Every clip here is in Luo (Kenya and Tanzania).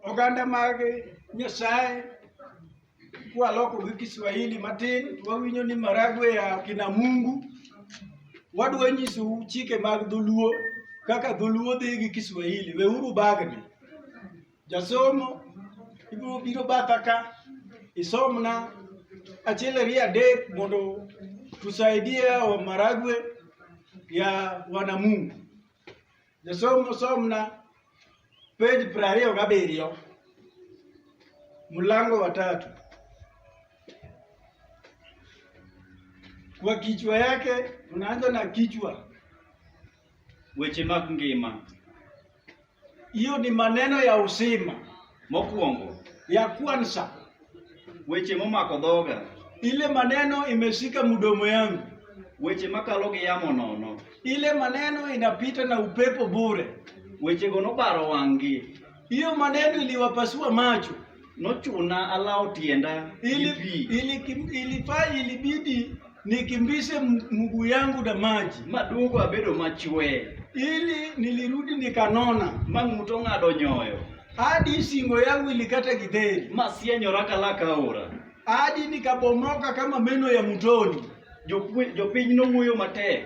Oganda mag Nyasaye kwaloko gi Kiswahili matin wawinjo ni maragwe ya kina Mungu. Wadwa nyisou chike mag dholuo kaka dholuo dhi gi Kiswahili. Weuru bagni. Jasomo ibiro biro batha ka isomna achiel ariyo adek mondo tusaidie wa maragwe ya wanamungu. Jasom somna pej piero ariyo gabiriyo mlango wa tatu kwa kichwa yake unaanza na kichwa weche mag ngima hiyo ni maneno ya uzima mokwongo ya kwanza Weche momako dhoga. Ile maneno imeshika mdomo yangu. Weche makalo gi yamo nono. Ile maneno inapita na upepo bure. Wechego nobaro wang'gi. Hiyo maneno iliwapasua macho. Nochuna alawo tienda ili, ili, ili, ili, ilibidi nikimbishe mguu yangu na maji maduogo abedo machwe ili nilirudi nikanona mang'uto ng'ado nyoyo hadi singo yangu ilikata kidheri masienyora kalaka aora hadi nikabomoka kama meno ya mtoni jopiny nong'uyo matek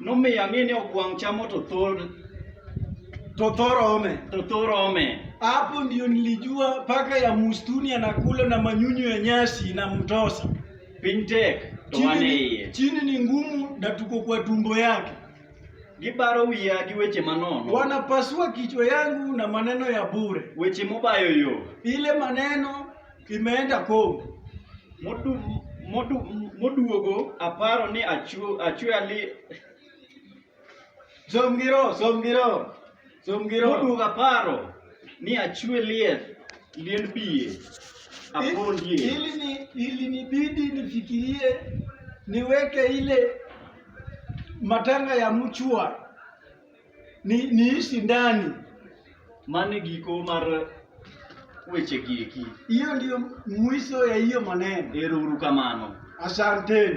Nomiyo ang'e ni ogwang' chamo to thor to thorome to thorome. Hapo ndio nilijua paka ya mustuni anakula na manyunyu ya nyasi na mtosa. Piny tek to wan e Chini, iye. chini ni ngumu na tuko kwa tumbo yake. Gibaro wiya gi weche manono, Wanapasua kichwa yangu na maneno ya bure, weche mobayo yo. ile maneno Imeenda pong' modu, modu, moduogo aparo ni achwe achwe ali som giro som giro som giro moduogo aparo ni achwe lieth liend biye apondie ili ni ili nibidi nifikirie niweke ile matanga ya mchwa ni niishi ndani mane giko mar weche gieki hiyo ndio mwisho ya hiyo maneno ero uru kamano asanteni